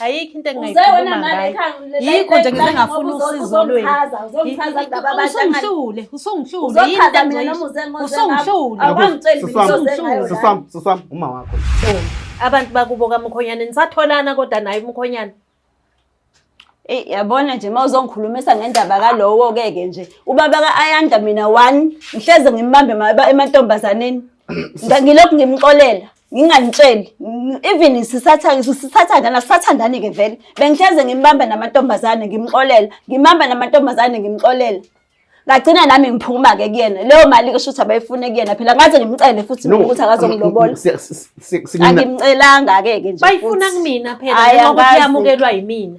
Ayikho into engingayikhuluma ngayo. Yikho nje ngize ngafuna usizo lwenu. Usungihlule, usungihlule. Yini into engizoyisho? Usungihlule. Awangitsheli mina uzozenza ngayo. Sisam, sisam, uma wakho. Abantu bakubo kaMkhonyane nisatholana kodwa naye uMkhonyane. Eh yabona nje mawuzongikhulumisa ngendaba kalowo ke ke nje. Ubaba ka Ayanda mina one ngihleze ngimbambe ema- emantombazaneni. Ngilokhu ngimxolela. nginganitsheli even sisathandana sisathandana sisathandani ke vele bengihleze ngimbamba namantombazane ngimxolela ngimamba namantombazane ngimxolela ngagcina nami ngiphuma ke kuyena leyo mali ke shuthi abayifune kuyena phela ngaze ngimcele futhi No, ukuthi akazongilobola si- si- si- si- ngina- angimcelanga ke ke nje bayifuna futhi. kumina phela Hhayi, njengoba angazi. kuyamukelwa yimina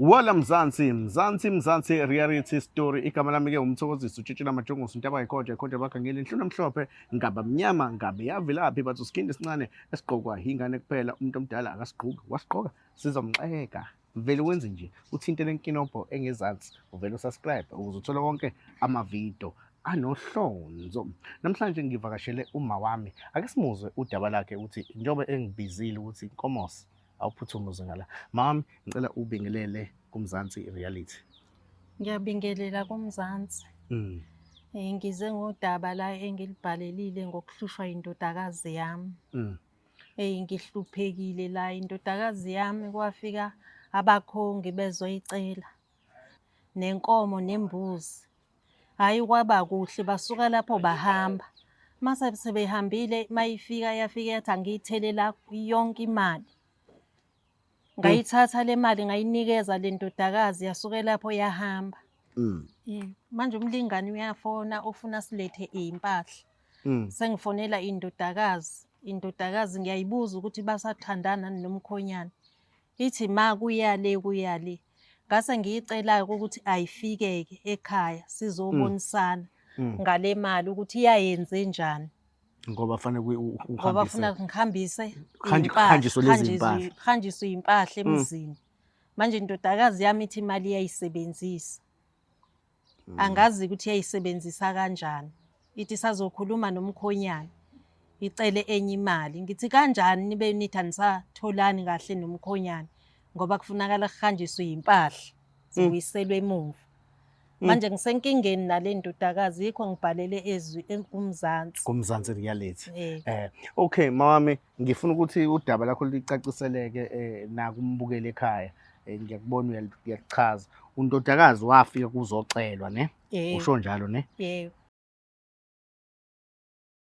Wala Mzansi, Mzansi, Mzansi, reality story. Igama lami ke umthokozisi utshitshela amajongosi into abayikhoja ikhoja bakhe ngeli nhluna mhlophe ngaba mnyama ngabe yavelaphi bathi usikhindi esincane esigqokwa yingane kuphela umuntu omdala akasigqoki wasigqoka sizomxeka vele wenze nje uthinte lenkinobho engezansi uvele usubscribe ukuze uthole konke amavidiyo anohlonzo namhlanje ngivakashele uma wami ake simuzwe udaba lakhe ukuthi njengoba engibizile ukuthi inkomos awuphuthume uzengala mami ngicela ubingelele kumzansi reality ngiyabingelela kumzansi mm. Eh, ngize ngodaba la engilibhalelile ngokuhlushwa indodakazi yami mm. eyi eh, ngihluphekile la indodakazi yami kwafika abakhongi bezoyicela nenkomo nembuzi. Hhayi kwaba kuhle basuka lapho bahamba. Uma sebehambile uma ifika yafika yathi angiyithelela yonke imali. Ngayithatha le mali ngayinikeza le ndodakazi yasuke lapho yahamba. Mm. Manje umlingani uyafona ufuna silethe iy'mpahla. Mm. Sengifonela indodakazi, indodakazi ngiyayibuza ukuthi basathandana nomkhonyana. Ithi ma kuya le kuya le. Ngase ngiyicela ukuthi ayifike-ke ekhaya sizobonisana ngale mali ukuthi iyayenze njani. ngoba fanele kuye u- u- Ngoba uhambise. funa ngihambise Hanj- iy'mpahla, hanjiswe lezi hanjiswe- mpahla. hanjiswe iy'mpahla emzini. Manje indodakazi yami ithi imali iyayisebenzisa. Mm. angazi ukuthi yayisebenzisa kanjani ithi sazokhuluma nomkhonyana icele enye imali ngithi kanjani nibe nithi anisatholani kahle nomkhonyana ngoba kufunakala kuhanjiswe yimpahla zibuyiselwe emuva Mm. manje ngisenkingeni nale ndodakazi yikho ngibhalele ezwi kumzansi kumzansi reality eh eh okay mawami Ngifuna ukuthi udaba lakho licaciseleke eh, nakumbukeli ekhaya eh, ngiyakubona uyal- uyakuchaza undodakazi wafika kuzocelwa ne Yebo. usho njalo ne Yebo.